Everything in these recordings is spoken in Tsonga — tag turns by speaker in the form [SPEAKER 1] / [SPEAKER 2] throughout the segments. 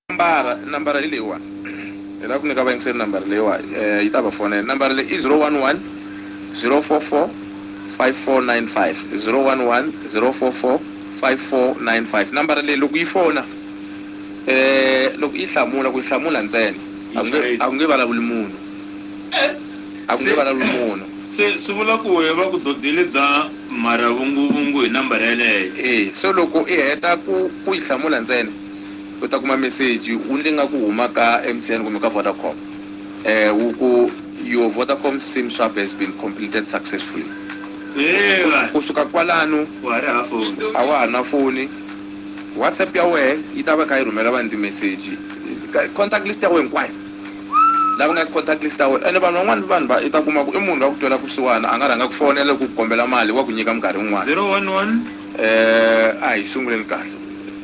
[SPEAKER 1] nambara nambara hi leyiwani hi lava ku nyika vayingiseri nambara leyiwa eh, yi ta va fonela nambara leyi i 011 044 5495 011 044 5495 nambara leyi loko yi fona eh loko yi hlamula ku yi hlamula ntsena a ku nge- Yi a ku nge vulavuli munhu a ku nge Se- vulavuli munhu se swi vula ku
[SPEAKER 2] wehe va ku dodile bya mharavunguvungu hi nambara yeleyo eh so loko i heta
[SPEAKER 1] ku ku yi hlamula ntsena u ta kuma meseji wu ndzi nga ku huma ka M_T_N kumbe ka Vodacom wu ku your Vodacom sim swap has been completed successfully ku suka kwalano a wa ha na foni WhatsApp ya wehe yi ta va yi kha yi rhumela vanhu timeseji contact list ya wehe hinkwayo lava nga ka contact list ya wehe ene vanhu van'wana vanhu va i ta kuma ku i munhu loyi a ku twela kusuhana a nga rhanga a ku fonela ku ku kombela mali wa ku nyika minkarhi yin'wana
[SPEAKER 2] a hi sunguleni
[SPEAKER 1] kahle.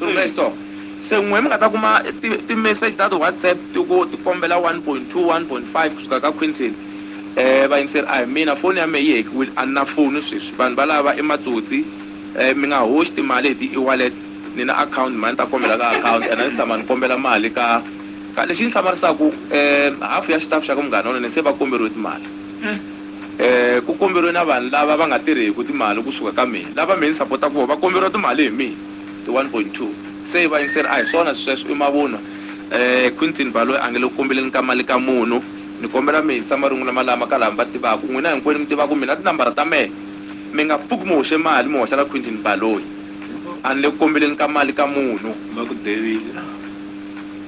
[SPEAKER 1] Se n'wina mi nga ta kuma ti ti message ta ti WhatsApp ti ku ti kombela one point two, one point five kusuka ka Quinton vayingiseri a hi mina foni ya mehe yi hekiwile a ni na foni sweswi vanhu valava i matsotsi mi nga hoxi timali hi ti ewallet ni na akhawunti mhani ta kombela ka akhawunti and a ndzi tshama ni kombela mali ka ka lexi ndzi hlamarisaka half ya xitafu xa ka munghana wa mina se va komberiwe timali ku komberiwe na vanhu lava va nga tirheki timali kusuka ka mina lava mehe ni sapotaka voho va komberiwa timali hi mina. i 1.2. Se vayingiseri a hi swona swisweswo i mavunwa. Eh, Quintin Baloyi a nge le ku kombeleni ka mali ka munhu. Ni kombela mi hisa marungula malama ka lava mi va tivaka. N'wina hinkwenu mi tivaka mina tinambara ta mehe. Mi nga pfuki mi hoxe mali mi hoxela Quintin Baloyi. A ni le ku kombeleni ka mali ka munhu. Va ku devile.